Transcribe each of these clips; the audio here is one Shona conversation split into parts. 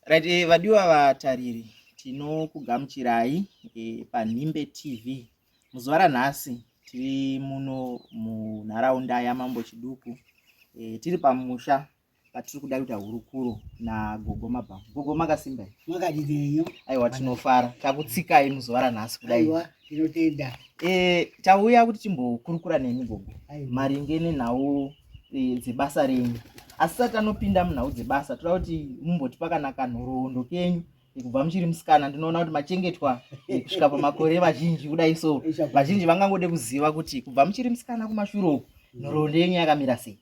Right, eh, vadiwa vatariri tinokugamuchirai eh, panhimbe tv muzuva ranhasi tiri muno munharaunda yamambo chiduku eh, tiri pamusha patiri kuda kuita hurukuro nagogo mabhamu gogo makasimba makadireyo aiwa tinofara takutsikai muzuva ranhasi kudai tinotenda e, tauya kuti timbokurukura nemi gogo maringe nenhau e, dzebasa renyu asi sati anopinda munhau dzebasa toda kuti mumbotipa kana kanhoroondo kenyu kubva muchiri musikana ndinoona kuti machengetwa kusvika pamakore vazhinji kudai so vazhinji vangangode kuziva kuti kubva muchiri musikana kumashure uku nhoroondo yenyu yakamira sei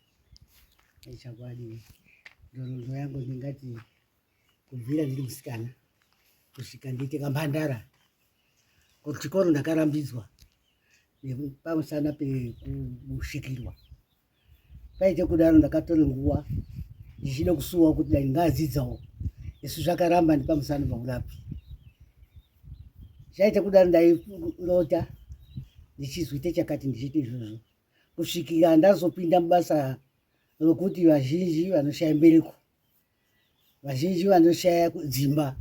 ichakwadi nhoroondo yangu ndingati kubvira ndiri musikana kusvika ndiite kamhandara kuchikoro ndakarambidzwa pamusana pekusvikirwa paite kudaro ndakatore nguva ndichida kusuwa kuti dai ngaadzidzawo isu zvakaramba ndipamusana paurapi zvaite kudaro ndairota ndichizwite chakati ndichiite izvozvo kusvikira ndazopinda mubasa rokuti vazhinji vanoshaya mbereko vazhinji vanoshaya dzimba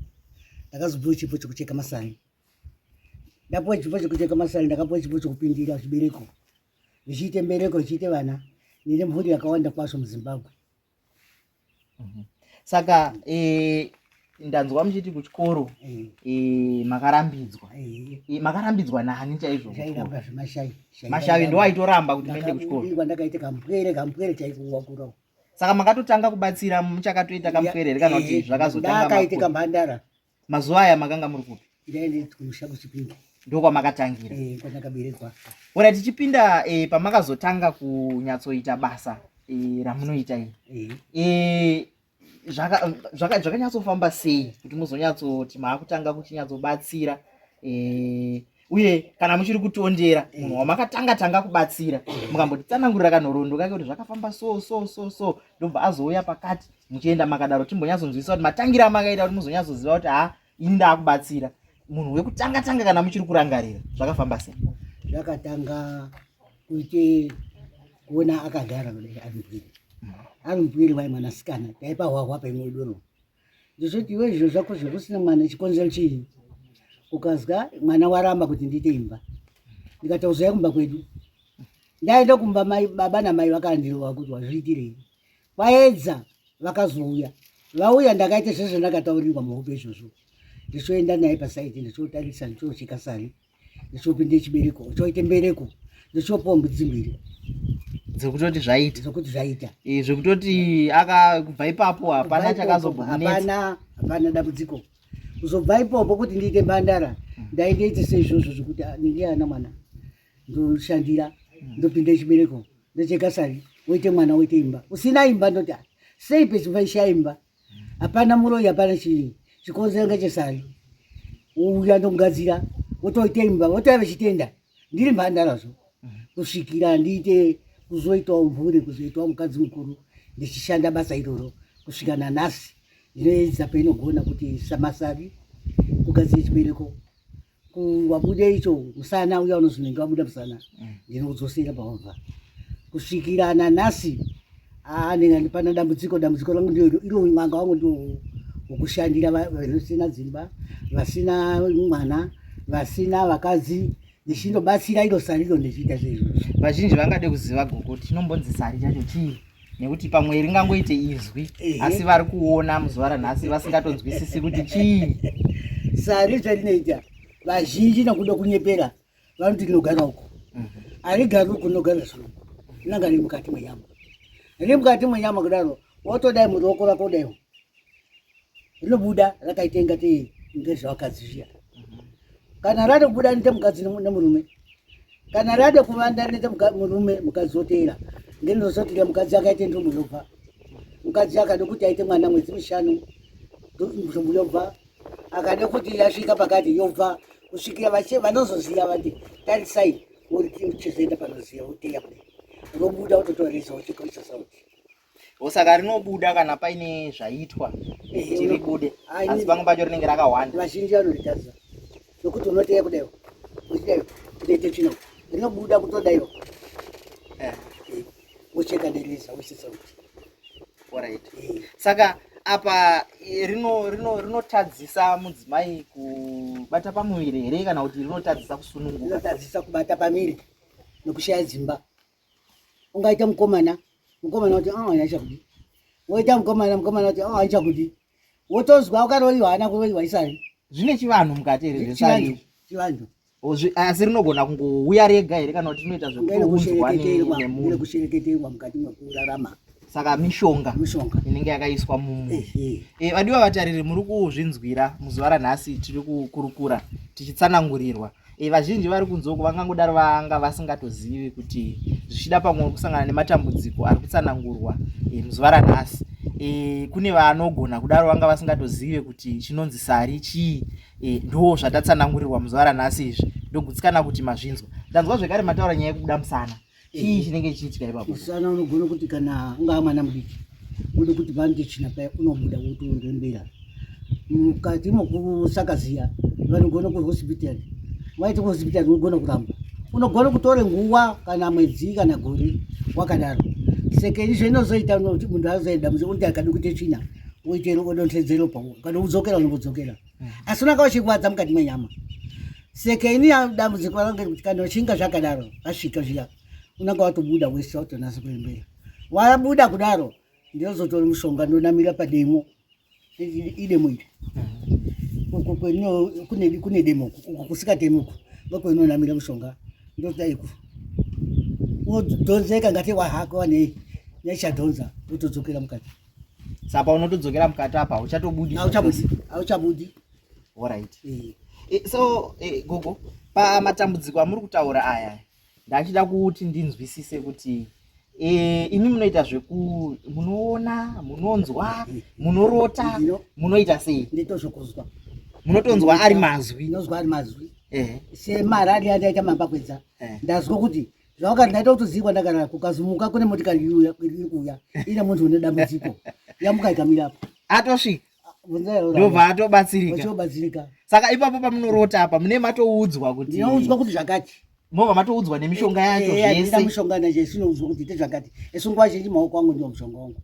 ndakazopiwa chipo chekucheka masani ndapiwa chipo chekucheka masani ndakapiwa chipo chekupindira zvibereko zvichiite mbereko zvichiite vana nine mhuri yakawanda kwazvo muzimbabwe mhm. saka eh, ndanzwa muchiti kuchikoro eh. Eh, makarambidzwa makarambidzwa nani chaizvomashai ndo aitoramba kuti maende kuchikoro ndakaita kampwere kampwere chaiko wakurawo saka makatotanga kubatsira muchakatoita kamupere here kana kuti eh, zvakazotangakaitika mhandara mazuva aya makanga muri kupi ndaendekumusha kuchipinda ndokwamakatangira eh, kwandakaberekwa ora tichipinda eh, pamakazotanga kunyatsoita basa ramunoita iri zvakanyatsofamba sei kuti muzonyatsoti maakutanga kuchinyatsobatsira e, uye kana muchiri kutondera eh. munhu wamakatanga tanga kubatsira mukambotitsanangurira kanhoroondo kake kuti zvakafamba so so so so ndobva azouya pakati muchienda makadaro timbonyatsonzwisisa kuti matangira amakaita kuti muzonyatsoziva kuti ha ini ndaakubatsira munhu wekutanga tanga kana muchiri kurangarira zvakafamba sei zvakatanga kuite kuona akagara kudai ari mupwiri ari mupwiri wai mwanasikana taipahwahwa paimwe doro ndizoti iwe zviro zvako zvekusina mwana chikonzero chii ukazwa mwana waramba kuti ndiite imba ndikatauzai kumba kwedu ndaenda kumba mai baba namai vakandirova kuti wazviitirei vaedza vakazouya vauya ndakaita zvese zvandakataurirwa muhope izvozvo ndichoenda naye pasaiti ndichotarisa ndichoocheka sari ndichopinde chibereko choite mbereko ndichopuwa mbudzi mbiri dzekutoti zvaita dzekuti zvaita eh, zvekutoti akabva ipapo hapana chakazobhapana hapana dambudziko kuzobva ipopo kuti ndiite mbandara hmm. ndaindeite seizvozvo zvekuti ah, ndinge ana mwana ndoshandira hmm. ndopinda chibereko ndocheka sari woite mwana woite imba usina imba ndoti ah, sei pezimba ishaimba hapana muroyi hapana chii chikonzero ngechesari uya ndokugadzira wotoita imba wotova vechitenda ndiri mhandarazvo kusvikira handiite kuzoitawo mhuri kuzoitawo mukadzi mukuru ndichishanda basa iroro kusvika nanhasi ndinoedza painogona kuti samasari kugadzira chibereko wabuda icho musana uya unonzi nenge wabuda musana mm. ndinokudzosera pawabva kusvikira nanhasi anenge andipana dambudziko dambudziko rangu ndio iro mwanga wangu ndio wokushandira vasina dzimba vasina mwana vasina vakadzi ndichinobatsira iro sari iro ndichiita zvezvo vazhinji vangade kuziva gogo tinombonzi sari chacho chii nekuti pamwe ringangoite izwi asi vari kuona muzuva ranhasi vasingatonzwisisi kuti chii sari zvarinoita vazhinji nakuda kunyepera vanoti rinogara uko mhm. harigari uko rinogara zvirungu rinanga riri mukati mwenyama riri mukati mwenyama kudaro wotodai muruoko rako daiwo rinobuda rakaita ingatei ngezvevakadzi zviya mhm. kana rade kubuda nite mukadzi nemurume kana rade kuvanda nite murume mukadzi woteera ngenozotira mukadzi akaite ntombo yobva mukadzi akade kuti aite mwana mwedzi mishanu ntombo yobva akade kuti yasvika pakati yobva kusvikira vache vanozoziva vati tarisai uri chizoenda panoziva uteya kudai robuda utotoresa uchikoisa sauti osaka rinobuda kana paine zvaitwa eh, kuti ribude asi pamwe pacho rinenge rakawanda vazhinji vanoritadza nokuti unoteya kudaiwo uchidaiwo kutoite tsvina rinobuda kutodaiwo eh. eh, wocheka dereza wosisa kuti orit saka apa rinotadzisa rino, rino mudzimai kubata pamuviri here kana kuti rinotadzisa kusununguka rinotadzisa kubata pamiri nokushaya dzimba ungaita mukomana mukomana kuti ah, aichakudi woita mukomana mukomana kuti ah, aichakudi wotozwa ukaroyiwa hana kuroyiwa isari zvine chivanhu mukati here zvesanyu chivanhu asi rinogona kungouya rega here kana kuti rinoita zvekuunzwa nemunhu kushereketerwa mukati mekurarama saka mishonga mishonga inenge yakaiswa mumu eh, vadiwa vatariri muri kuzvinzwira muzuva ranhasi tiri kukurukura tichitsanangurirwa e, vazhinji vari kunzoko vangangodaro vanga vasingatozivi kuti zvichida pamwe kusangana nematambudziko ari kutsanangurwa e, muzuva ranhasi e, kune vanogona kudaro vanga vasingatozive kuti chinonzi sari chii e, ndo zvatatsanangurirwa muzuva ranhasi izvi ndogutsikana kuti mazvinzwa ndanzwa zvekare mataura nyaya yekubuda musana chii eh. chinenge chichiitika ipapo sana unogona kuti kana ungaa mwana mudiki unoda kuti vandichina paya unobuda wotoondembera mukati mokusakaziya vanogona kuhospital waiti kuhospital unogona kuramba unogona kutore nguva kana mwedzi kana gore wakadaro seke izvo inozoita munhu azoenda muzi unotiakadi kuite tsvina woitero odonhedzero pao kana udzokera unovodzokera asi unanga uchirwadza mukati mwenyama seke ini dambudziko range kuti kana uchinga zvakadaro vasvika zviya unanga watobuda wese watonasa kuembera wabuda kudaro ndinozotora mushonga ndonamira pademo idemo iri kune demo uku kusikatemi uku ndokweinonamira mushonga ndotaiku wodhonzeka ngati wahako wanei nechadhonza wotodzokera mukati saka unotodzokera mukati apa uchatobudi auchabudi orit eh. eh, so eh, gogo pamatambudziko amuri kutaura aya ndachida kuti ndinzwisise kuti imi munoita zveku munoona munonzwa munorota munoita sei nditozvokuzwa munotonzwa ari mazwi ndinozwa ari mazwi semararia ndaita mambakwedza ndazwa kuti zvawakati ndaita utozivi kwandagara kukazumuka kune motikari iriuya iri kuuya ine munhu une dambudziko yamuka ikamira apo atosvika ndobva atobatsirikaobatsirika saka ipapo pamunorota apa mune matoudzwa kuti ndinoudzwa kuti zvakati mova matoudzwa nemishonga yacho eh, eh, zvese mishonga nacho isinoudzwa kuti ite zvakati esi nguva zhinji maoko angu ndiwo mushonga wangu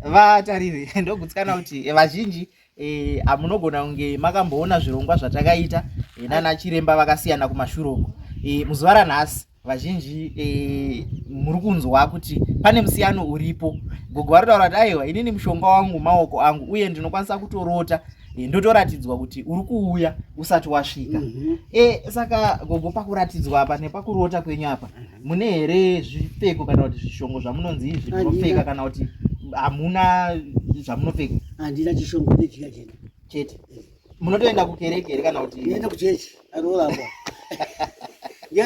ah, vatariri ndogutsikana kuti vazhinji Eh, ah, munogona kunge makamboona zvirongwa zvatakaita eh, nana chiremba vakasiyana kumashure uko eh, muzuva ranhasi vazhinji eh, muri kunzwa kuti pane musiyano uripo gogo vari taura kuti aiwa inini mushonga wangu maoko angu uye ndinokwanisa kutorota eh, ndotoratidzwa kuti uri kuuya usati wasvika mm -hmm. eh, saka gogo pakuratidzwa apa nepakurota kwenyu apa mune here zvipfeko kana kuti zvishongo zvamunonzi izvi munopfeka kana kuti hamuna zvamunopfeka handina chishongo ndechika chete chete eh. munotoenda kukereke here kana kuti enda kuchechi anoramba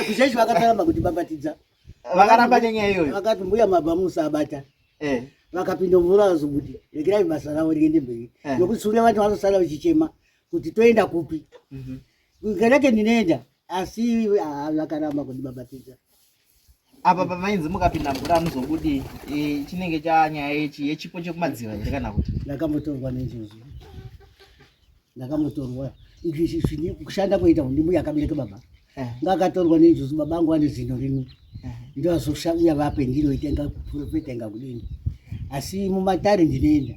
kuchechi vakataramba kuti babatidza vakaramba nenyaya iyoyo vakati mbuya mabva musabata eh. vakapinda mvura vazobuti regerai basa ravo riende mberi eh. nokuti sure vati vazosara vachichema kuti toenda kupi mhm. kereke ndinoenda asi vakaramba kundibhabhatidza apa pamainzi mukapinda mvura anozobudi e, chinenge chanyaya yechi yechipo chekumadziva here kana kuti ndakamotorwa nenjozvo ndakamotorwa izvi kushanda kuita ndimbuya akabereka baba eh. ngakatorwa nenjuzu baba angu ane zino rimwe ndovazosvauya vape ndinoita inga kuprofeta inga kudini asi mumatare ndinoenda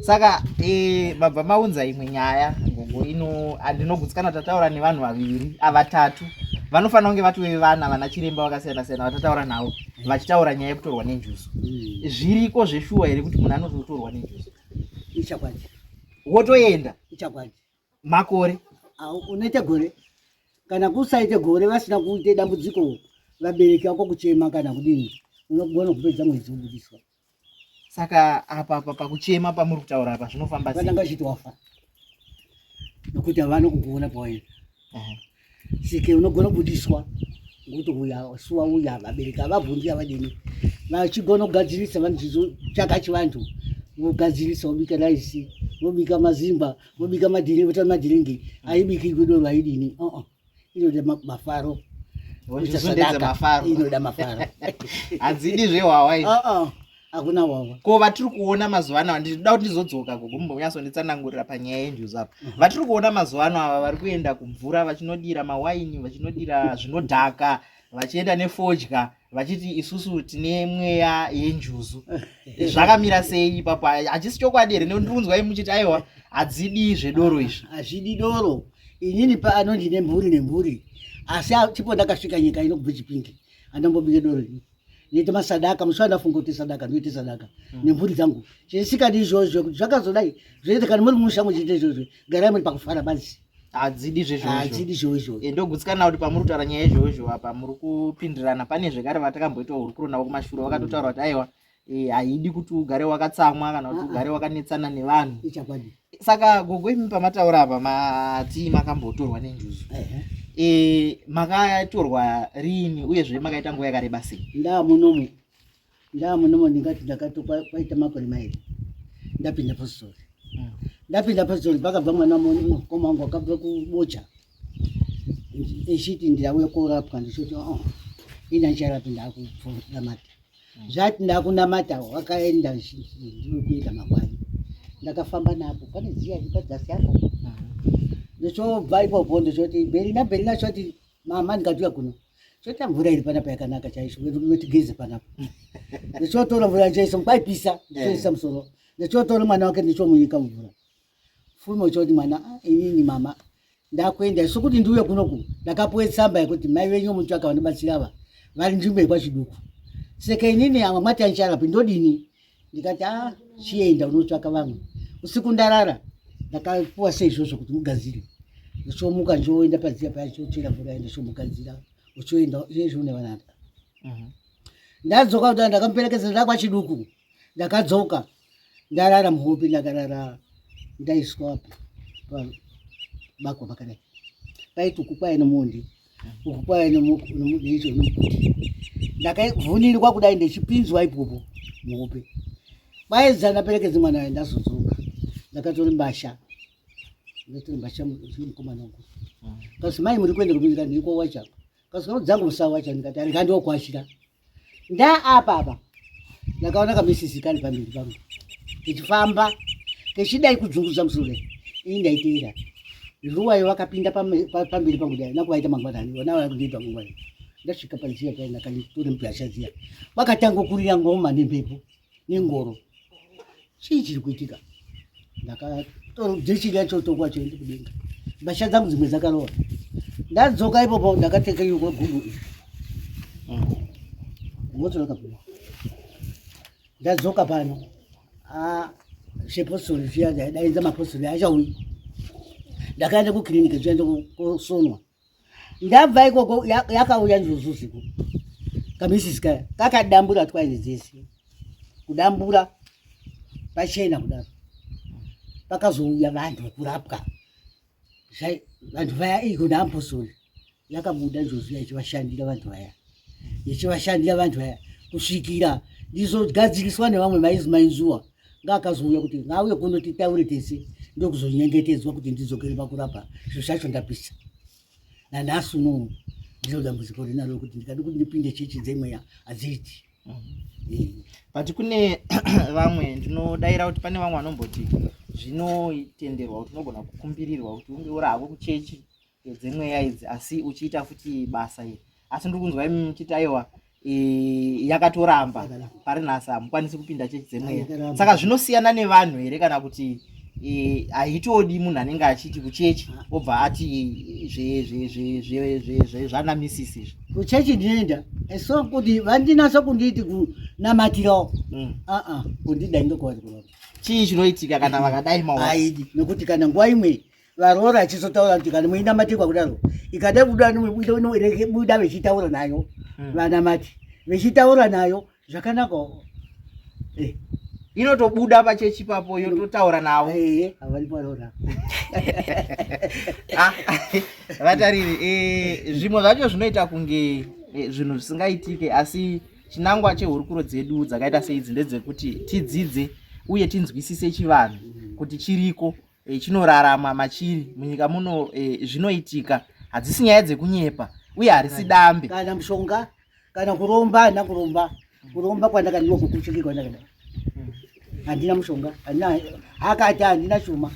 saka eh, baba maunza imwe nyaya gogo ino andinogutsikana tataura nevanhu vaviri avatatu vanofanira kunge vatove vana vana chiremba vakasiyana siyana vatataura navo vachitaura nyaya yekutorwa nenjuzu hmm. zviriko zveshuwa here kuti munhu anototorwa nenjuzu ichakwadi wotoenda ichakwadi makore unoita gore kana kusaita gore vasina kuita dambudziko vabereki vako kuchema kana kudini unogona kupedza mwedzi wobudiswa saka apa apa pakuchema pamuri kutaura apa zvinofamba sei vananga chitofa nokuti havana kukuona pawaenda seke unogona kubudiswa ngokuti uya suwa uya vabereki avabvunzi avadini vachigona kugadzirisa vanochizotsvaka chivantu vogadzirisa vobika raisi vobika mazimba vobika madhiringi vota madhiringi aibiki ikudoro aidini uh -uh. inoda mafaro inoda mafaro hadzidi zvehwawai uh -uh. hakuna wawa ko vatiri kuona mazuva ano ndinoda kuti ndizodzoka gogo mumbonyatsonditsanangurira panyaya yenjuzu apa mhm. vatiri kuona mazuva ano ava vari kuenda kumvura vachinodira mawaini vachinodira zvinodhaka vachienda nefodya vachiti isusu tine mweya yenjuzu eh. zvakamira sei ipapo hachisi chokwadi here nekuti ndikunzwa i muchiti aiwa hadzidi zvedoro izvi hazvidi doro inini paano ndine mhuri nemhuri asi tipo ndakasvika nyika inobvechipingi andombobike doro ini ndoita masadaka musi wandafunga kuti sadaka ndoita sadaka mm. nemhuri dzangu chisikadi izvozvo kuti zvakazodai zvoita kana muri musha muchiita izvozvo garai muri pakufara basi hadzidi zvezvoadzidi zvoizvo eh, ndogutsikana kuti pamuri kutaura nyaya yezvoizvo apa muri kupindirana pane zvekare vatakamboita hurukuro navo kumashure vakatotaura kuti aiwa eh, haidi kuti ugare wakatsamwa kana kuti ah, ah. ugare wakanetsana nevanhu saka gogo imi pamataura apa mati makambotorwa nenjuzu e, makatorwa riini uyezve makaita nguva yakareba sei ndaa munomu ndaa munomu ndingati ndakatokwa kwaita makore mairi ndapinda pastori mm. ndapinda pastori pakabva mwana mukoma wangu akabva kubocha echiti ndauya korapwa ndichoti oh, ini ancharapinda akupfuramata zvati ndakunamata wakaenda ndinokuita makwai ndakafamba napo pane ziya ipadzasi apo ndochobva ipopo ndochoti bheri nabheri nachoti mama ndikatuya kuno choti mvura iri panapa yakanaka chaizvo notigeze panapa ndochotora mvura chaiso kwaipisa ndochoisa musoro ndochotora mwana wake ndochomunyika mvura full motion kuti mwana ah, inini mama ndakuenda isu kuti ndiuye kunoku ndakapuwe tsamba yekuti mai venyu mutsvaka vanobatsira ava vari nzvimbo yekwachiduku saka inini amwe mwati ancharapi ndodini ndikati a ah, chienda unotsvaka vamwe usiku ndarara ndakapuwa seizvozvo kuti mugadzire ndochomuka ndoenda padziya paya chochera mvura enda chomugadzira uchoenda izvezvo une vanaka mhm. ndadzoka kuti ndakamuperekedza ndakwachiduku ndakadzoka ndarara muhope ndakarara ndaiswa bakwa pakadai paiti uku kwaye nomondi uku kwaye nomuicho nomukuti ndakavhunirwa kudai ndechipinzwa ipopo muhope kwaiza ndaperekedze mwana ayo ndazodzoka ndakatori mbasha ndatori mbasha mukomana wangu kasi mai muri kuenda kuminzika ndiri kwawacha kasi kano dzangu musawacha ndikati andikandiokwashira nda apa apa ndakaona kamesisi kari pamberi pangu kechifamba kechidai kudzungudza musure ini ndaiteera ruwayo vakapinda pamberi pangu dai nakuvaita mangwanani vana vakundiita mangwanani ndasvika paziya pai ndakaitora mbwasha ziya vakatangokurira ngoma nemhepo nengoro chii chiri kuitika ndakatojechiga chotokwa choende kudenga mbasha dzangu dzimwe dzakarova ndadzoka ipopo ndakateka yokwa gudu iri ngotsoroka mm. pano ndadzoka pano zvepostori ah, zviya daidaidza mapostori achauyi ndakaenda kukiriniki zviya ndokosonwa ndabva ikoko yakauya nzuzuziku kamisisi kaya kakadambura twaini dzese kudambura pachena kudaro pakazouya vanhu vekurapwa vanhu vaya iko naapostori yakabuda njuzu yachivashandira vanhu vaya ndichivashandira vanhu vaya kusvikira ndizogadziriswa nevamwe maizi mainzuwa ngaakazouya kuti ngauye kuno titaure tese ndokuzonyengetedzwa kuti ndidzokere pakurapa zvo zvacho ndapisa nanhasi uno ndiro dambudziko rinaro kuti ndikadi kuti ndipinde chechi dzemweya hadziiti mhm. but kune vamwe ndinodaira kuti pane vamwe vanomboti zvinotenderwa kuti unogona kukumbirirwa kuti unge uri hako kuchechi dzemweya idzi asi uchiita futi basa iri asi ndiri kunzwa imi muchiti aiwa yakatoramba pari nhasi hamukwanisi kupinda chechi dzemweya saka zvinosiyana nevanhu here kana kuti haitodi munhu anenge achiti kuchechi obva ati zvanamisisi izvi kuchechi ndinoenda so kuti vandinasa kunditi kunamatirawo mm. aa kundidai ndokuwaiaa chii chinoitika kana vakadai maidi nekuti kana nguva imwe varoora achizotaura kuti kana muinamatikwa kudaro ikada kuda buda vechitaura nayo hmm. vanamati vechitaura nayo zvakanaka eh. inotobuda pachechi papo yototaura navo eh, ah, vatariri eh, zvimwe zvacho zvinoita kunge zvinhu zvisingaitike asi chinangwa chehurukuro dzedu dzakaita seidzi ndedzekuti tidzidze uye tinzwisise chivanhu kuti chiriko e, chinoraramwa machiri munyika muno e, zvinoitika hadzisi nyaya dzekunyepa uye harisi dambe kana mushonga kana kuromba handina kuromba kuromba kwandakadiwa kukuchiki kwandakada hmm. handina mushonga handina akati handina chuma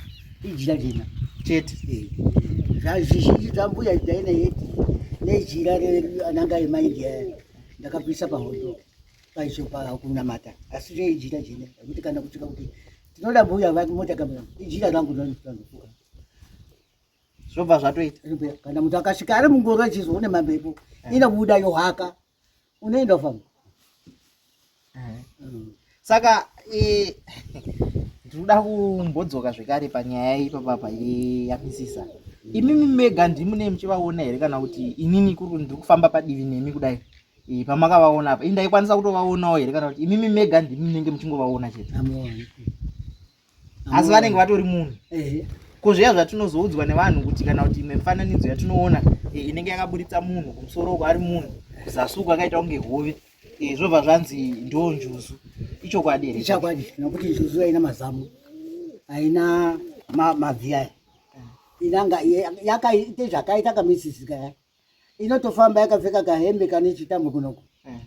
ijira jena chete eh. zvazvizhinji zvambuya jaina yeti nejira ananga emaindia ndakapisa pahondo paisho pakunamata asi reijira jena kuti kana kutika kuti Tinoda mbuya vati mota kamera. Ijira rangu ndani kutanga. Zvobva zvatoita. Kana mtu akasvika ari mungoro achizoona mamhepo eh. inobuda yohaka. Unoenda ufamba. Eh. Mm. Saka eh ndinoda kumbodzoka zvekare panyaya ipapa pa yamisisa. Imimi mega ndimune muchivaona here kana kuti inini kuri ndiri kufamba padivi nemi kudai? Eh, pamakavaona apa indaikwanisa kutovaonawo here kana kuti imimi mega ndimi munenge muchingovaona chete asi vanenge vatori munhu ko zviya zvatinozoudzwa nevanhu kuti kana kuti imwe mifananidzo yatinoona eh, inenge yakaburitsa munhu kumusoro uko ari munhu kuzasuku akaita kunge hove eh, zvobva zvanzi ndo njuzu ichokwadi here ichokwadi nokuti njuzu aina mazamu aina mavhi aya inanga yakaita zvakaita kamisisika yake inotofamba yakapfeka kahembe kane chitambo kunoku eh.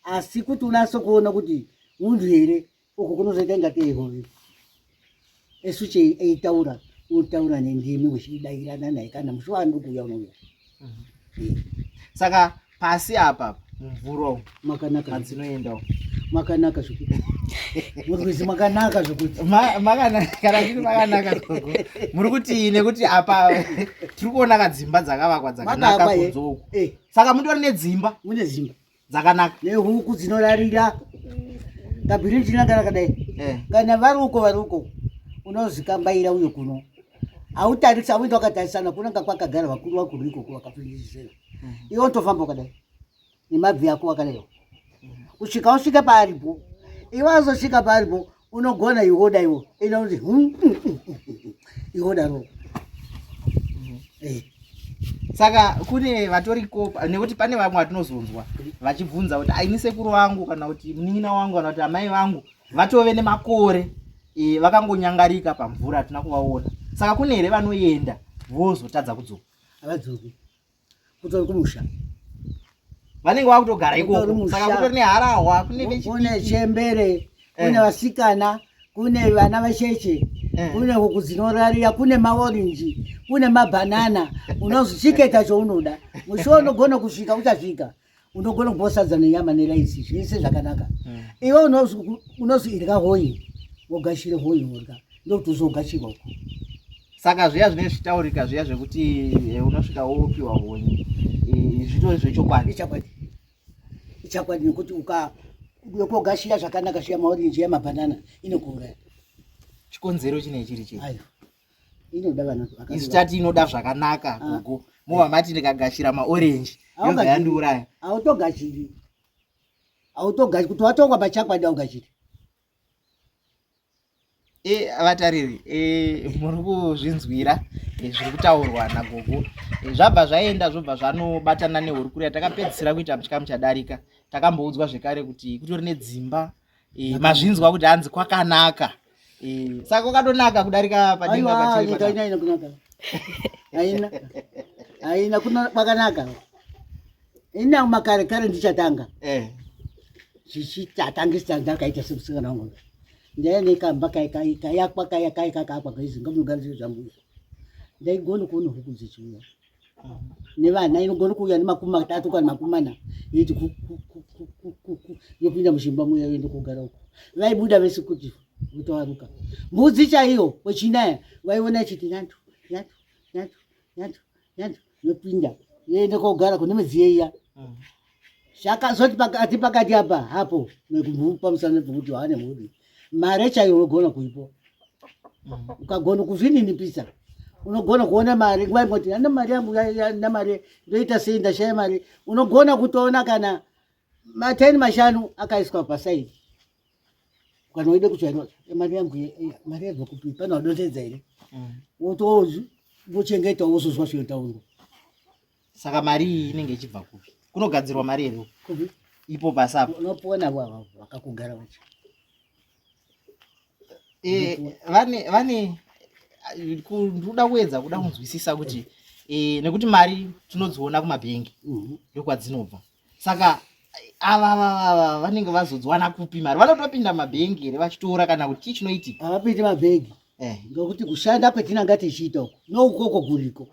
asi kuti unase kuona kuti munhu here uku kunozoita ingatei hove esu chei eitaura unotaura nendimi uchidairana naye kana musi waanokuuya unouya mhm. eh. saka pasi apa mvura uku Makanaka. Madzinoendawo. Makanaka zvekuti. Murikuzi makanaka zvekuti. Makanaka kana kuti makanaka gogo. Muri kuti nekuti apa tiri kuona kadzimba dzakavakwa dzakanaka eh. kunzou. Eh. Saka mutori nedzimba. Mune dzimba. Dzakanaka. Nehuku dzinorarira. Kabhirinji nakana kadai. Eh. Kana vari uko vari uko unozikambaira uyo kuno. Autarisa auenda wakatarisana kunanga kwakagara vakuru vakuru ikoko vakapindizira. Mhm. Iwe unotofamba wakadai. nemabvi yako wakareva kusvika usvike paaripo iwe azosvika paaripo unogona ihoda iwo ina kuti hmm, hmm, hmm, ihoda ro eh. saka kune vatori kopa nekuti pane vamwe vatinozonzwa vachibvunza kuti aini sekuru wangu kana kuti munin'ina wangu kana kuti amai vangu vatove nemakore e, vakangonyangarika pamvura hatina kuvaona saka kune here vanoenda vozotadza kudzoka havadzoki kutori kumusha vanenge vakutogara ikoko saka kutori neharahwa kune vechikune chembere kune eh. vasikana kune vana vacheche eh. kune huku dzinorarira kune maorinji kune mabhanana unozvichiketa chounoda musho unogona kusvika uchasvika unogona kupiwa sadza nenyama neraisi zvese zvakanaka hmm. iwe unozi irya hoyi wogashire hoyi worya ndokuti uzogashirwa uko saka zviya zvinenge zvichitaurika zviya zvekuti eh, unosvika wopiwa honye eh, zvitori zvechokwadi ichakwadi ichakwadi nekuti ukayokogashiya zvakanaka shiya maorenji yamabhanana inokuuraya chikonzero chinei chiri chii inoda vana isu tati inoda zvakanaka ah. gogo mova mati ndikagashira maorenji yoga yandiuraya autogashiri autogashiri kuti watongwa pachakwadi augashiri e eh, vatariri e eh, muri kuzvinzwira e, zviri kutaurwa nagogo e, zvabva zvaenda zvobva zvanobatana nehurukuro yatakapedzisira kuita muchikamu chadarika takamboudzwa zvekare kuti kutori nedzimba Eh, mazvinzwa kuti hanzi kwakanaka eh, saka kwakatonaka kudarika padingapachiaina kunaka aina aina kwakanaka ina makare kare ndichatanga eh. zvichitatangisa ndakaita semusikana wangu ndaiya nekamba kayakwa kayakayakakakwa kaizi ngamunogara zviro zvangu ndaigona kuona huku dzechiuya nevana inogona kuuya nemakumi matatu kana makumi mana yoiti yopinda muzvimba muya yoenda kugara uko vaibuda vese kuti votoaruka mbudzi chaiyo wechinaya vaiona ichiti nyandu nyandu nyandu nyandu nyandu yopinda yoenda kogara kune midziyo iya mm. zvakazoti pakati pakati apa hapo nekumupa musana pekuti waane mhuri mare chaiyo unogona kuipo ukagona kuzvininipisa unogona kuona mari nguva imoti ana mari yangu na mari ndoita sei ndashaya mari unogona kutoona kana mateni mashanu akaiswa pasaidi kana uide kutsvairwa mari yangu mari yabva kupi pane wadonhedza here mm. wotozvi vochengeta wozozwa zvinotaurwa saka mari iyi inenge ichibva kupi kunogadzirwa mari here ipo pasi apo unopiwa navo vakakugara vacho eh, vane vane ndoda kuedza kuda kunzwisisa kuti eh, nekuti mari tinodziona kumabhengi mhm. ndokwadzinobva saka ava vava vanenge vazodziwana kupi mari vanotopinda mabhengi here vachitora kana kuti chii chinoitika havapindi mabhengi eh ngokuti kushanda kwetinanga tichiita uko noukoko kuriko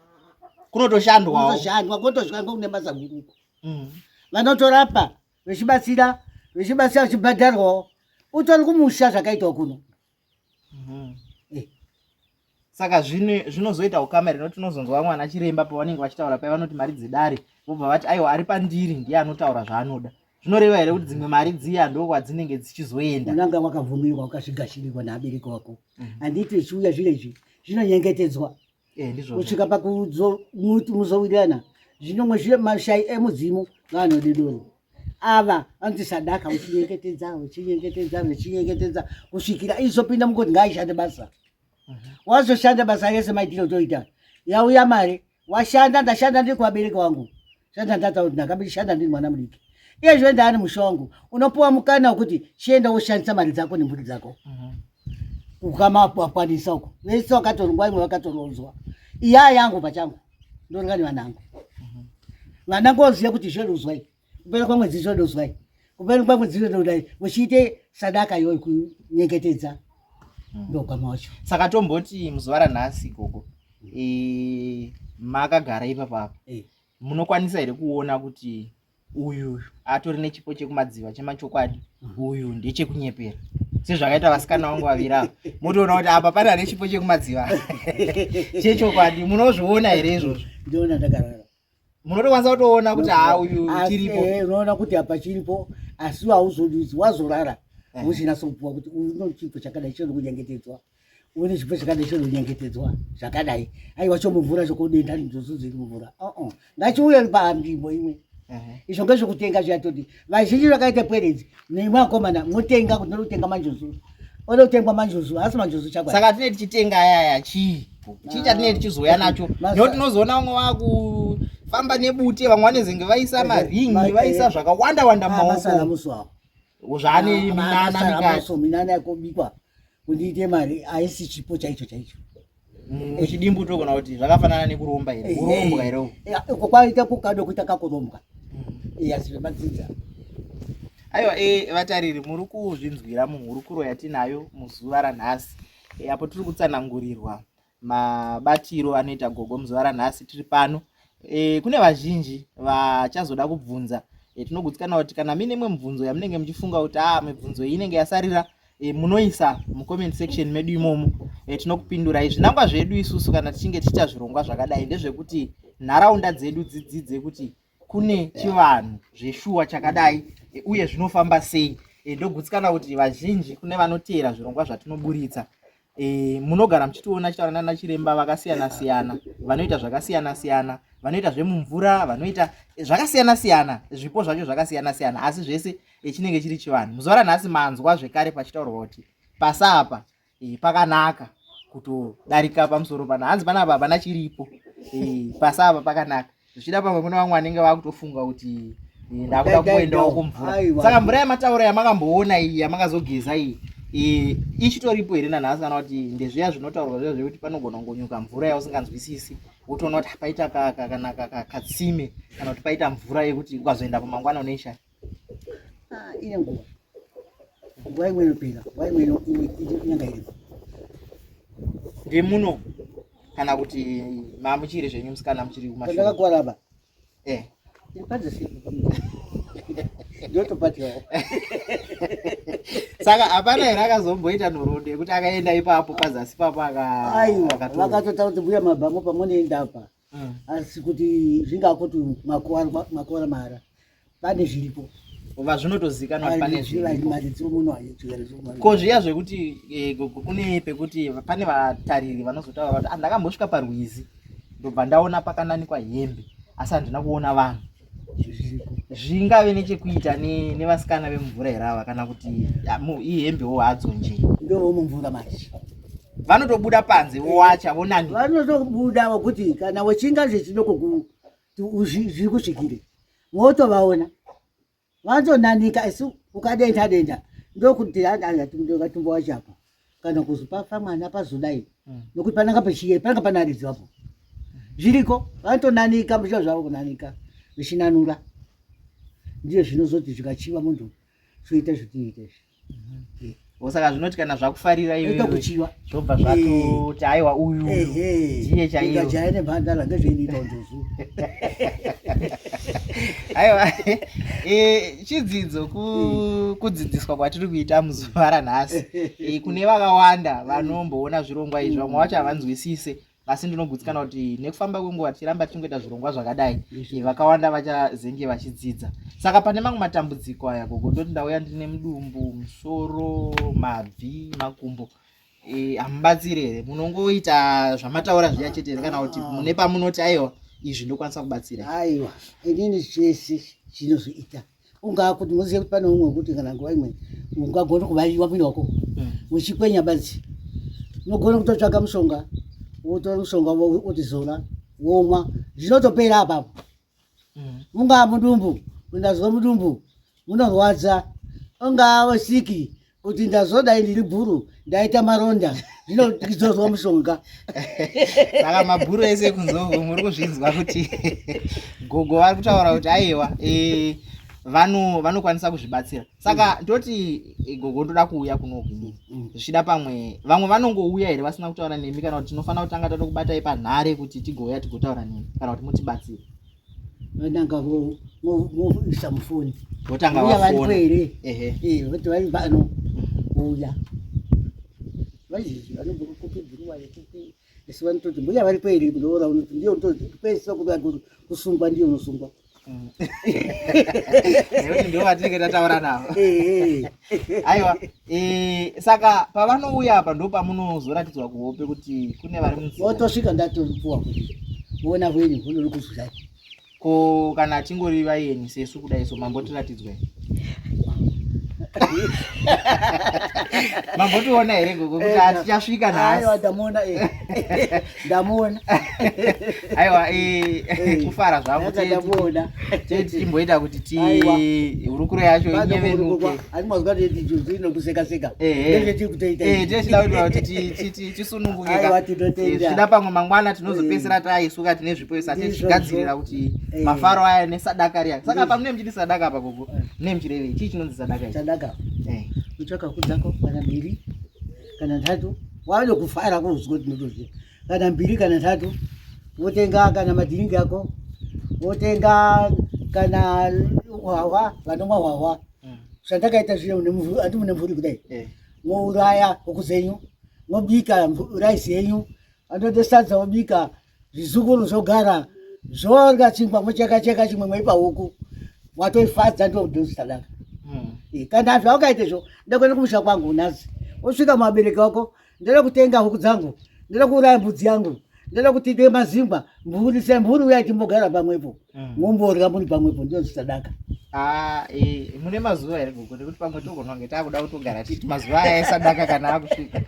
kunotoshandwa kunotoshandwa kotosvika ngokune basa guruko mm. vanotorapa vechibatsira vechibatsira vechibhadharwawo utori kumusha zvakaitwa kuno mm -hmm. saka zvinozoita ukama rino tinozonzwa vamwe ana chiremba pavanenge vachitaura paya vanoti mari dzedare vobva vati aiwa ari pandiri ndiye anotaura zvaanoda zvinoreva here kuti dzimwe mari dziya ndo kwadzinenge dzichizoenda unanga wakabvumirwa ukazvigashirirwa neabereki wako mhm. handiti zvichiuya zvino izvi zvinonyengetedzwa eh, kusvika pakuzowirirana zvinomwe mashai emudzimu vaanodidoro ava vanoti sadaka uchinyengetedza uchinyengetedza uchinyengetedza kusvikira izopinda mukoti ngaaishande basa wazoshanda basa yese maitire otoita yauya mari washanda ndashanda ndiri kuvabereki wangu shanda ndataura kuti ndakambi ndishanda ndiri mwana mudiki iye zve ndaani musha wangu unopiwa mukana wekuti chienda woshandisa mari dzako nemhuri dzako mhm. ukamawakwanisa uko vese wakatorungwa imwe vakatorodzwa iya yangu pachangu ndoringa nevanangu mhm. vanangu oziva kuti zveruzwai kupera kwamwedzi zvodozwai kupera kwamwedzi zvododai uchiite sadaka iyoyo kunyengetedza hmm. ndogama wacho saka tomboti muzuva ranhasi gogo e, makagara ipapa apa e. munokwanisa here kuona kuti uyu atori nechipo chekumadziva chemachokwadi hmm. uyu ndechekunyepera sezvakaita vasikana vangu vaviri ava motoona kuti apa pane ane chipo chekumadziva chechokwadi munozviona here izvozvo ndiona ndakarara munotokwanisa kutoona kuti haa uyu chiripo eh, unoona kuti apa chiripo asi hauzodudzi wazorara eh. usina sopuwa kuti uno chipo chakadai chinokunyengetedzwa une chipo chakadai chinokunyengetedzwa zvakadai aiwa chomuvhura chokodenda ndozoziri muvhura uh-uh. ngachiuye panzvimbo imwe izvo ngezvekutenga zviya toti vazhinji vakaita pwere idzi nemwe akomana motenga kuti ndoda kutenga manjuzu oda kutengwa manjuzu haasi manjuzu chakwa saka tinee tichitenga ayaya chii chii chatinee tichizouya nacho nekuti tinozoona vamwe vakufamba nebute vamwe vanezenge vaisa maringi vaisa zvakawanda wanda ah, mumaoko zvaane ah, minana mikati minana yakobikwa kundiite mari haisi chipo chaicho chaicho Mm. Chidimbu togona kuti zvakafanana nekuromba here eh, urombwa here eh, uko kwaita kukado kuita kakurombwa mm. iya zvinomadzidza aiwa e vatariri muri kuzvinzwira muhurukuro yatinayo muzuva ranhasi e, apo tiri kutsanangurirwa mabatiro anoita gogo muzuva ranhasi tiri pano e, kune vazhinji vachazoda kubvunza e, tinogutsikana kuti kana mine imwe mibvunzo yamunenge muchifunga kuti a ah, mibvunzo iyi inenge yasarira e, munoisa mucomment section medu imomo e, tinokupindurai zvinangwa zvedu isusu kana tichinge tichiita zvirongwa zvakadai ndezvekuti nharaunda dzedu dzidzidze kuti kune chivanhu zveshuwa chakadai e, uye zvinofamba sei e, ndogutsikana kuti vazhinji kune vanoteera zvirongwa zvatinoburitsa e, munogara muchitiona chitaura nana chiremba vakasiyana siyana vanoita zvakasiyana siyana vanoita zvemumvura vanoita zvakasiyana siyana zvipo zvacho zvakasiyana siyana asi zvese e, chinenge chiri chivanhu muzuva ranhasi manzwa zvekare pachitaurwa kuti pasapa e, pakanaka kutodarika pamusoro pana hanzi panapa hapana chiripo e, pasapa pakanaka zvichida pamwe kune vamwe vanenge vakutofunga kuti eh, ndakuda kuendawo kumvura saka mvura yamataura yamakamboona iyi yamakazogeza iyi eh, ichitoripo here nanhasi kana kuti ndezviya zvinotaurwa zviya zvekuti panogona kungonyuka mvura yausinganzwisisi wotoona kuti paita katsime kana kuti paita mvura yekuti ukazoenda pamangwana unoishaya ah, ine nguva nguva imwe inopera nguva imwe inyanga iripo ndemuno kana kuti mamuchiri zvenyu musikana muchiri kumashandakakuvara apa e ndotopatiawo saka hapana here akazomboita nhoroondo yekuti akaenda ipapo pazasi papo akaiwa vakatotaura kuti mbuya mabhango pamwe neenda apa mm. asi kuti zvingakuti makora mara pane zviripo vazvinotozikanwa pane ko zviya zvekuti eh, kune pekuti pane vatariri vanozotaura vati andakambosvika ah, parwizi ndobva ndaona pakananikwa hembe asi handina kuona vanhu zvingave nechekuita nevasikana vemumvura here ava kana kuti ihembewo hadzo nje ndomumvura manje vanotobuda panze vowacha vonani vanotobuda vokuti kana wechinga zvechidoko zviri kusvikire motovaona Vanotonanika asi ukadenda denda ndokuti tumbo wacho apa kana kuzi pafa mwana pazodai hmm. nokuti pananga pachiye pananga panaridzi apo zviriko vanotonanika muzviro zvavo kunanika vechinanura ndiyo zvinozoti zvikachiva munhu zvoita zvitiite izvi osaka zvinoti kana zvakufarira iyoyokuchiva zvobva zvatoti aiwa uyu ndiye chaiyojaye nemhandara ngezveinoita unjozu aiwa chidzidzo kudzidziswa kwatiri kuita muzuva ranhasi kune vakawanda vanomboona zvirongwa izvi vamwe vacho havanzwisise asi ndinogutsikana kuti nekufamba kwenguva tichiramba tichingoita zvirongwa zvakadai vakawanda vachazenge vachidzidza saka pane mamwe matambudziko aya gogo ndoti ndauya ndine mudumbu musoro mabvi makumbo e, hamubatsiri here munongoita zvamataura zviya chete here kana kuti mune pamunoti aiwa izvi ndokwanisa kubatsira aiwa inini zvese zvinozoita so ungakuti moziva kuti pane umwe wekuti kana nguva imwe ungagona kuvaiwa kuita uko hmm. uchikwenya badzi unogona kutotsvaga mushonga wotora mushonga wotizora womwa zvinotopera apapo hmm. mungaa mudumbu mundazwa mudumbu munorwadza ungaa wasiki kuti ndazodai ndiri bhuru ndaita maronda zvino ndizozwa mushonga saka mabhuru ese kunzou muri kuzvinzwa kuti gogo vari kutaura kuti aiwa e, vanokwanisa kuzvibatsira saka mm. ndoti e, gogo ndoda kuuya kunoku mm, mm. zvichida pamwe vamwe vanongouya here vasina kutaura nemi kana kuti tinofanira kutanga tatokubatai panhare kuti tigouya tigotaura nemi kana kuti mutibatsire vananga voisa mufoni votanga uya varipo here eh, voti vari pano uya vazhinji vanobva kupi bhuruwa yekupi asi vanototi mbuya varipo here kunoora unoti ndiyo unototi pesa kuti vantu kusungwa ndiyo unosungwa mm. nekuti ndivo vatinenge tataura navo eh, eh. aiwa eh, saka pavanouya apa ndo pamunozoratidzwa kuhope kuti kune vari mutosvika ndatopuwa kuti vona hwenyu hunori kuzwai ko kana atingori vayeni sesu kudai so mambotiratidzwai mambotiona here gogo kuti hatichasvika nhasi ndamuona aiwa eh, eh, kufara zvangu ndamuona teti timboita kuti ti hurukuro yacho inyevenuke asi mazwa teti juzi inokuseka seka tete tiri kutoita eh tete tinoda kuti tisununguke aiwa tinotenda zvida pamwe mangwana tinozopesera taisuka tine zvipo isa tete tigadzirira kuti mafaro aya nesadakari yake saka pamwe nemchiti sadaka apa gogo nemchireve chii chinonzi sadaka sadaka eh kutsvaka kudzako kana mbiri kana nhatu wave nekufara kunzwa kuti ndinotoziva kana mbiri kana nhatu wotenga kana madhiringi ako wotenga kana hwahwa vanomwa hwahwa hmm. zvandakaita zviye ati mune mvuri kudai eh. mouraya huku zenyu mobika raisi yenyu andotosadza mobika zvizukuru zvogara zvonga chingwa mocheka cheka chimwe maipa huku watoifadza ndodozitadaka hmm. eh, kana zvaukaita izvo ndakuenda kumusha kwangu nhasi osvika muvabereki wako ndada kutenga huku dzangu ndada kuuraya mbudzi yangu ndada kuti ite mazimba mhuri semhuri uya timbogara pamwepo hmm. momborya muri pamwepo ndozitadaka Ah, eh, mune mazuva here gogo nekuti pamwe togononge takuda kutogara titi mazuva aya esadaka kana akusvika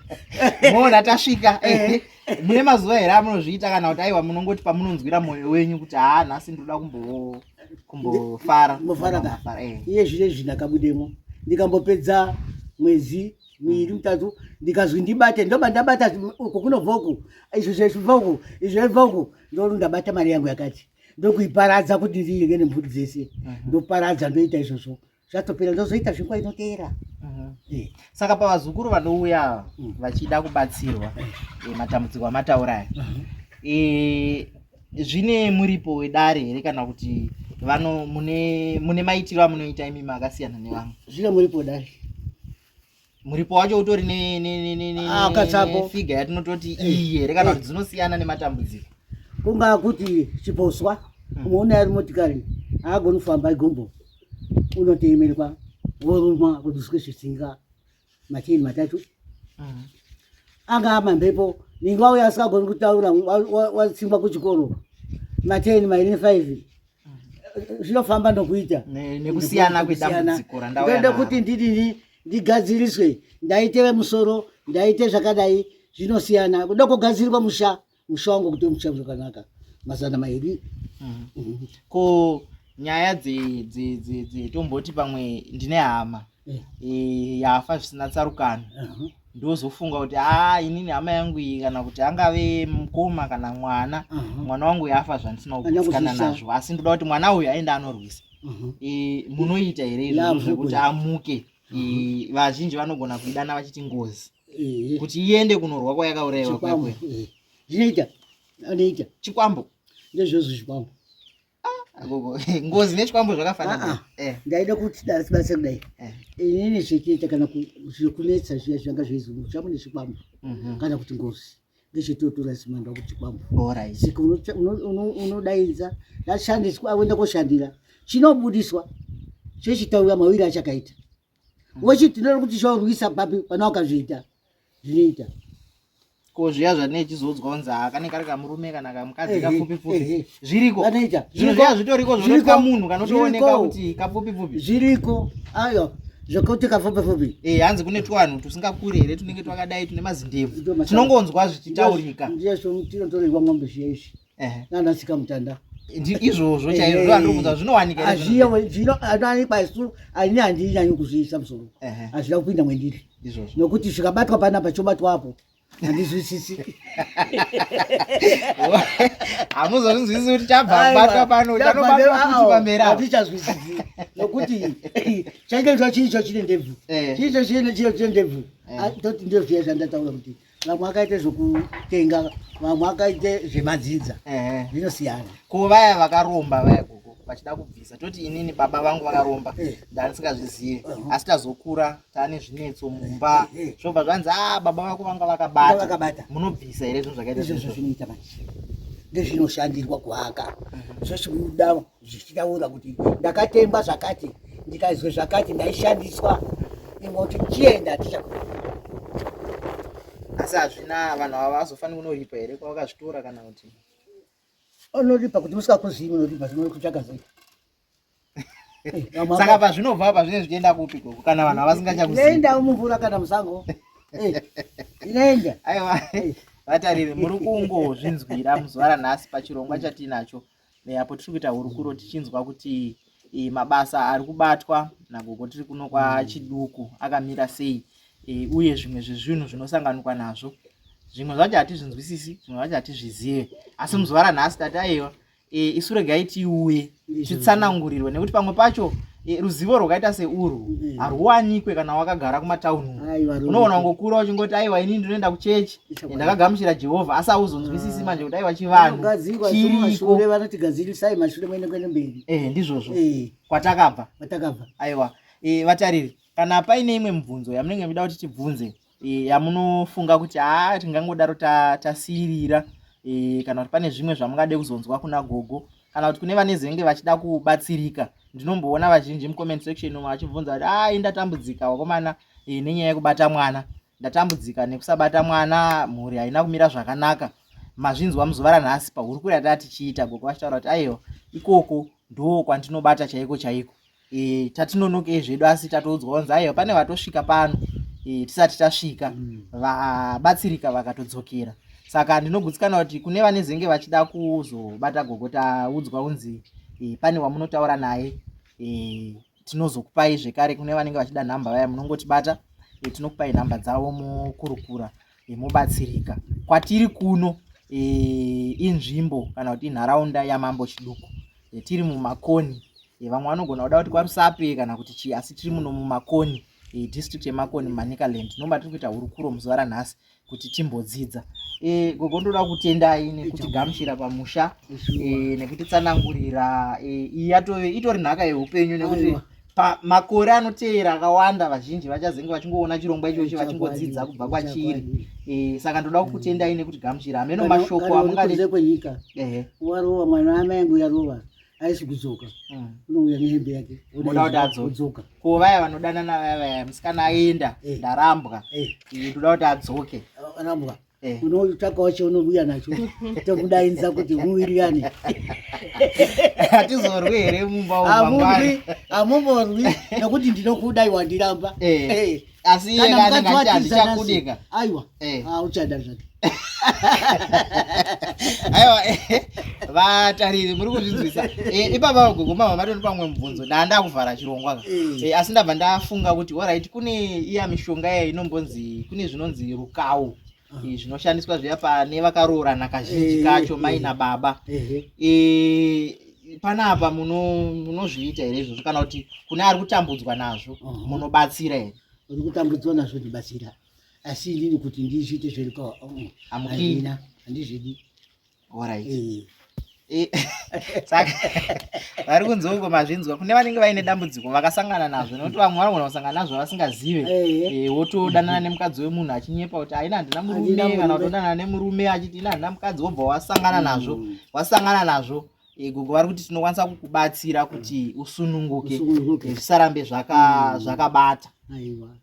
moona tasvika eh, eh. mune mazuva here amunozviita kana kuti aiwa munongoti pamunonzwira mwoyo wenyu kuti haa nhasi ndinoda kumbo kumbofara mofara eh. iye zvine zvi ndakabudemo ndikambopedza mwedzi miiri mitatu ndikazwi ndibate ndoba ndabata uku kunobva uku izvo zvaibva uku izvo zvaibva uku ndoo ndabata mari yangu yakati ndokuiparadza kuti ndiinge nemhuri dzese mhm. ndoparadza ndoita izvozvo zvatopera ndozoita zvinguva inoteera eh, saka pavazukuru vanouya ava mm. vachida kubatsirwa eh, matambudziko amataura aya eh, zvine muripo wedare here kana kuti vano mune maitiro amunoita imi makasiyana nevamwe zvine muripo dare muripo wacho utori nefiga ah, yatinototi eh. iyi here kana eh. kuti dzinosiyana nematambudziko kungaa kuti chiposwa hmm. umwe une ari motikari haagoni kufamba igombo unoteemerwa woruma kuduswe zvisinga macheni matatu hmm. angaa mamhepo ninga uya asingagoni kutaura watsingwa kuchikoro mateni mairi nefive zvinofamba nokuita nekusiyana kwedambudziko randauyaenda kuti ndidini ndigadziriswe ndaite vemusoro ndaite zvakadai zvinosiyana kuda kugadzirwa musha musha wangu kuti musha zvakanaka mazana mairi mhm. Mhm. ko nyaya dzetomboti pamwe ndine hama eh. eh, yafa zvisina tsarukano uh-huh. ndozofunga kuti aa ah, inini hama yangu iyi kana kuti angave mukoma kana mwana uh-huh. mwana wangu yafa zvandisina kukusikana nazvo asi ndoda kuti mwana uyu aende anorwisa uh-huh. eh, munoita here izvozvo zvekuti amuke vazhinji vanogona kuidana vachiti ngozi kuti iende kunorwa kwayakaurayiwa kwakwe zvinoita anoita chikwambo ndezvozvo chikwambo ngozi nechikwambo zvakafanana ah, ah. eh. ndaida kuti dasibasa kudai eh. inini zvekuita kana zvekunetsa zviya zvanga zveizomuka zvangu nechikwambo mhm. kana kuti ngozi ngechetotora simanda kuchikwambo sika unodaidza ndashandiswa akuenda koshandira chinobudiswa chechitaura mawiri achakaita mhm. wochiti ndinoda kuti chaurwisa papi pana wakazviita zvinoita ko zviya zvatinee chizodzwa kunzi haa kanenge kari kamurume kana kamukadzi kapfupi pfupi zviriko zvinhu zviya zvitoriko zvinoitwa munhu kanotooneka kuti kapfupi pfupi zviriko ayo zvekuti kapfupi pfupi e hanzi kune twanhu tusingakuri here tunenge twakadai tune mazindebvu tinongonzwa zvichitaurika ndiyezvo tinotorerwa mombe zviya izvi nana sikamutanda izvozvo chaizvo zvandirikuudza zvinowanika zvinowanikwa isu ini handinyanyi kuzviisa musoro hazvina kupinda mwendiri nokuti zvikabatwa panapa chobatwa apo handizwisisi hamuzozvinzwisisi kuti chabvabatwa pano chanobatwakuchipamberi hatichazwisisi nokuti chainge zva chii cho chine ndebvu eh. chii cho chine chio chine ndebvu eh. ah, toti ndozviya zvandataura kuti vamwe vakaite zvekutenga vamwe vakaite zvemadzinza zvinosiyana ko vaya vakaromba vaya gogo vachida kubvisa toti inini baba vangu vakaromba eh. ndanisingazvizive uh-huh. asi tazokura taane zvinetso mumba eh, eh. zvobva zvanzi a ah, baba vako vanga vakabatakabata munobvisa here zvinhu zvakaita izvozvo zvinoita manje ndezvinoshandirwa kuhaka mhm. zvachibuda zvichitaura kuti ndakatengwa zvakati ndikaizwe zvakati ndaishandiswa imwe kuti chienda hatichakua asi hazvina vanhu ava vazofanira kunoripa here kwavakazvitora kana kuti unoripa kuti usikakuzivi unoripa zvino kutsvaga zai saka pazvinobva apa zvinenge zvichienda kupi koko kana vanhu avasingachakuziindawo mumvura kana musango eh, inoenda aiwa eh. vatariri muri kungozvinzwira muzuva ranhasi pachirongwa chatiinacho eh, apo tiri kuita hurukuro tichinzwa kuti eh, mabasa ari kubatwa nagogo tiri kuno kwachiduku mm. akamira sei eh, uye zvimwe zvezvinhu zvinosanganikwa nazvo zvimwe zvacho hatizvinzwisisi zvimwe zvacho hatizvizive asi mm. muzuva ranhasi tati aiwa isu regai tiuye titsanangurirwe nekuti pamwe pacho Eh, ruzivo rwakaita seurwu mm. harwuwanikwe kana wakagara kumatauni unoona ngokura uchingoti aiwa ini ndinoenda kuchechi ndakagamuchira jehovha asi auzonzwisisi ah. manje kuti aiwa chivanhu eh, ndizvozvo eh. kwatakabva aiwa vatariri kana paine imwe mibvunzo yamunenge muchida kuti tibvunze e, yamunofunga kuti haa tingangodaro tasiirira ta e, kana kuti pane zvimwe zvamungade kuzonzwa kuna gogo kana kuti kune vane zenge vachida kubatsirika ndinomboona vazhinji mucomment section umo vachibvunza kuti ai ndatambudzika wakomana e, nenyaya yekubata mwana ndatambudzika nekusabata mwana mhuri haina kumira zvakanaka mazvinzwa muzuva ranhasi pahurukuri yataa tichiita gogo vachitaura kuti aiwa ikoko ndoo kwandinobata chaiko chaiko e, tatinonokei zvedu asi tatoudzwa vanzi aiwa pane vatosvika pano e, tisati tasvika mm. vabatsirika vakatodzokera saka ndinogutsikana kuti kune vanezenge vachida kuzobata gogo taudzwa unzi e, pane wamunotaura naye e, tinozokupai zvekare kune vanenge vachida nhamba vaya munongotibata e, tinokupai nhamba dzavo mokurukura e, mobatsirika kwatiri kuno e, inzvimbo kana kuti inharaunda yamambo chiduku e, tiri mumakoni e, vamwe vanogona kuda kuti kwarusape kana kuti chii asi tiri muno mumakoni e, district yemakoni manicaland nomba tiri kuita hurukuro muzuva ranhasi kuti timbodzidza e, gogo ndoda kutendai nekutigamuchira pamusha e, nekutitsanangurira e, iyi yatove itori nhaka yeupenyu nekuti pamakore anotevera akawanda vazhinji vachazenge vachingoona chirongwa ichochi vachingodzidza kubva kwachiri eh, saka ndoda kukutendai nekuti gamuchira hameno mashoko amungae kwenyika warova mwana amai angu yarova aisi kudzoka hmm. unouya nehembe yake oda kuti adzoka ko vaya vanodanana vaya vaya musikana aenda eh. ndarambwa eh. ndoda kuti adzoke arambwa Eh. unotsvaka wacho unovuya nacho tomudainza kuti muwirirane hatizorwi here mumba amurwi amumorwi nokuti ndinokudai wandiramba eh. eh. asi iye kanengaachakudika aiwa auchada zvake aiwa vatariri muri kuzvinzwisa ipapa vagogoma vavatoni pamwe mubvunzo ndaa ndakuvhara chirongwa asi ndabva ndafunga kuti orit kune iya mishonga iya inombonzi kune zvinonzi kawo eh, zvinoshandiswa zviya pane vakaroorana kazhinji eh, kacho mai eh. nababa panapa munozviita here izvozvo kana kuti kune ari kutambudzwa nazvo uh-huh. munobatsira here uri kutambudzwa nazvo ndibatsira asi inini kuti ndizviite zverukaamukina handizvidi Alright. Eh. Saka vari kunzi uko mazvinzwa kune vanenge vaine dambudziko vakasangana nazvo nokuti vamwe vanogona kusangana nazvo vasingazive eh. Eh, wotodanana nemukadzi wemunhu achinyepa kuti haina handina murume kana kutodanana nemurume achiti ina handina mukadzi wobva wasangana nazvo mm. wasangana nazvo Gogo vari kuti tinokwanisa kukubatsira kuti usununguke zvisarambe mm. zvakabata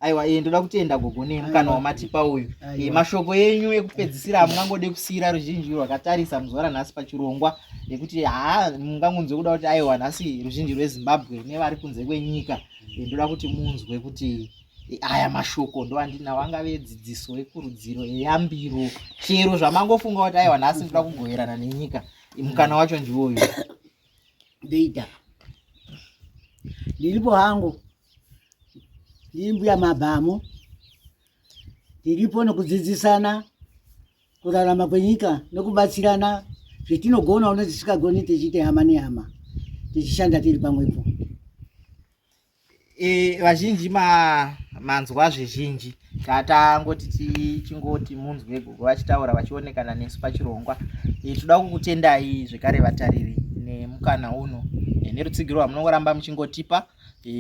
aiwa iye ndoda kutenda gogo nemukana wamatipa uyu eh, mashoko enyu ekupedzisira amungangode kusiyira ruzhinji rwakatarisa muzuva ranhasi pachirongwa nekuti haa mungangonzwe kuda kuti aiwa nhasi ruzhinji rwezimbabwe nevari kunze kwenyika ndoda kuti munzwe kuti aya mashoko ndowandinawo angave dzidziso yekurudziro yeyambiro chero zvamangofunga kuti aiwa nhasi ndoda kugoverana nenyika mukana wacho ndiwo uyu ndoita ndiripo hangu ndiri mbuya mabhamu tiripo nokudzidzisana kurarama kwenyika nokubatsirana zvetinogona uno tisikagoni tichiita hama nehama tichishanda tiri pamwepo e, vazhinji ma manzwa zvizhinji tatangoti tichingoti munzwe gogo vachitaura vachionekana nesu pachirongwa e, toda kukutendai zvekare vatariri nemukana uno e, nerutsigiro rwamunongoramba muchingotipa e,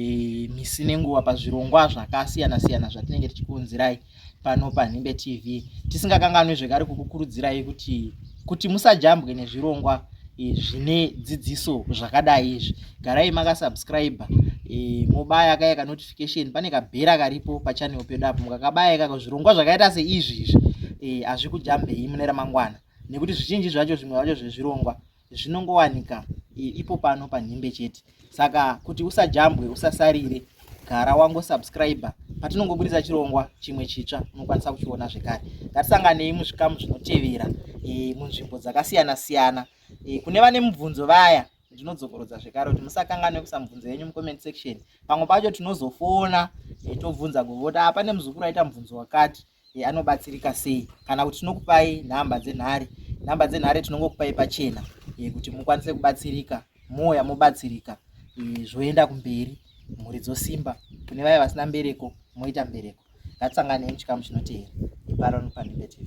misi nenguva pazvirongwa zvakasiyana siyana zvatinenge tichikuunzirai pano panhimbe tv tisingakanganwe zvekare kukukurudzirai kuti kuti musajambwe nezvirongwa e, zvine dzidziso zvakadai izvi garai makasubscribe e, mobaya kaya kanotification pane kabhera karipo pachanel pedu apo mukakabaya ikako zvirongwa zvakaita seizvi izvi e, hazvikujambei mune ramangwana nekuti zvizhinji zvacho zvimwe zvacho zvezvirongwa zvinongowanika ipo pano panhimbe chete saka kuti usajambwe usasarire gara wango subscribe patinongoburitsa chirongwa chimwe chitsva unokwanisa kuchiona zvekare ngatisanganei muzvikamu zvinotevera e, munzvimbo dzakasiyana siyana e, kune vane mubvunzo vaya ndinodzokorodza zvekare kuti musakanganwe kusa mubvunzo yenyu mucomment section pamwe pacho tinozofona e, tobvunza govoti apa nemuzukuru aita mubvunzo wakati eh, anobatsirika sei kana kuti tinokupai nhamba dzenhare nhamba dzenhare tinongokupai pachena eh, kuti mukwanise kubatsirika mouya mobatsirika eh, zvoenda kumberi mhuri dzosimba kune vaya vasina mbereko moita mbereko ngatisangane muchikamu chinoteera iparo nopandimbe tv